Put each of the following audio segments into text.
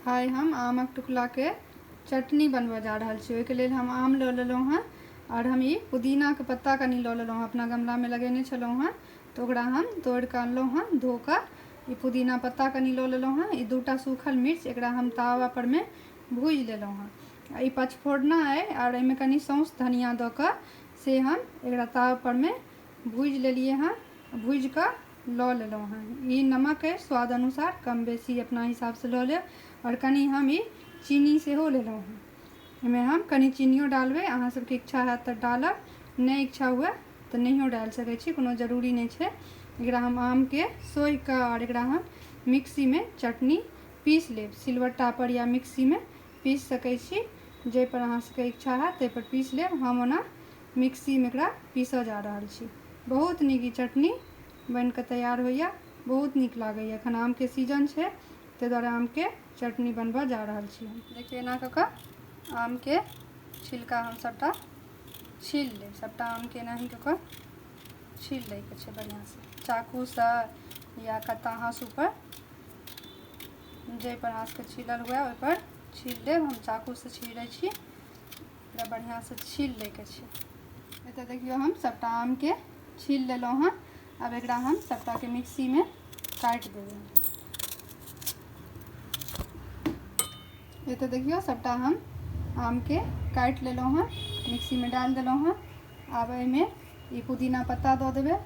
आइ हम आमक टुकलाके चटनी बनबऽ जा रहल छी ओहिके लेल हम आम लऽ लेलहुँ हँ आओर हम ई पुदीनाके पत्ता कनि लऽ लेलहुँ हँ अपना गमलामे लगेने छलहुँ हँ तऽ ओकरा हम तोड़िकऽ अनलहुँ हँ धोकऽ ई पुदीना पत्ता कनि लऽ लेलहुँ हँ ई दूटा सूखल मिर्च एकरा हम तावापरमे भुजि लेलहुँ हँ आओर ई पचफोरना अइ आओर एहिमे कनि सौँस धनिया दऽ कऽ से हम एकरा तावापरमे भुजि लेलिए हँ भुजिकऽ लऽ लेलहुँ हँ ई नमक अछि स्वाद अनुसार कम बेसी अपना हिसाबसँ लऽ लेब आओर कनि हम ई चीनी सेहो लेलहुँ हँ एहिमे हम कनि चीनिओ डालबै अहाँ सबके इच्छा हैत तऽ डालब नहि इच्छा हुए तऽ नहिओ डालि सकै छी कोनो जरूरी नहि छै एकरा हम आमके सोहिकऽ आओर एकरा हम मिक्सीमे चटनी पीस लेब सिलबट्टापर या मिक्सीमे पीस सकै छी जाहिपर अहाँ सबके इच्छा हैत ताहिपर पीस लेब हम ओना मिक्सी मे एकरा पीसऽ जा रहल छी बहुत नीक ई चटनी बनि कऽ तैयार होइया बहुत नीक लागैया एखन आम के सीजन छै ताहि दुआरे आम के चटनी बनबऽ जा रहल छी हम देखियौ एना कऽ कऽ आम के छिलका हम सबटा छील लेब सबटा आम के एनाही कऽ कऽ छील लै के छै बढ़िआँ से चाकू से या कत्ता हाँसू पर जाहि पर अहाँ सबके छीलल हुए ओहि पर छील लेब हम चाकू से छीलै छी एकरा बढ़िआँसँ छील लैके छै एतऽ देखियौ हम सभटा आमके छील लेलहुँ हँ आब एकरा हम सभटाके मिक्सीमे काटि देबै एतऽ देखियौ सभटा हम आमके काटि लेलहुँ हँ मिक्सीमे डालि देलहुँ हँ आब एहिमे ई पुदीना पत्ता दऽ देबै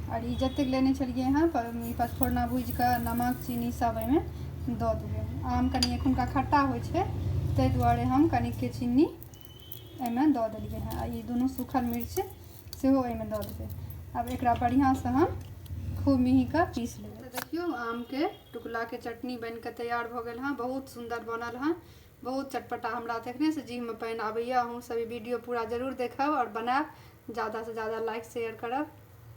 आओर ई जतेक लेने छलिए हँ पचफोरना भुजिकऽ नमक चीनी सब एहिमे दऽ देबै आम कनि एखुनका खट्टा होइ छै ताहि दुआरे हम कनिके चीनी एहिमे दऽ देलिए हँ आओर ई दुनू सूखल मिर्च सेहो एहिमे दऽ देबै आब एकरा बढ़िआँसँ हम खूब मिहीकऽ पीस लेबै देखिऔ आमके टुकलाके चटनी बनिकऽ तैयार भऽ गेल हँ बहुत सुन्दर बनल हँ बहुत चटपटा हमरा तऽ एखनेसँ जीहमे पानि आबैए अहूँसभ ई वीडियो पूरा जरूर देखब आओर बनायब ज्यादासँ ज्यादा लाइक शेयर करब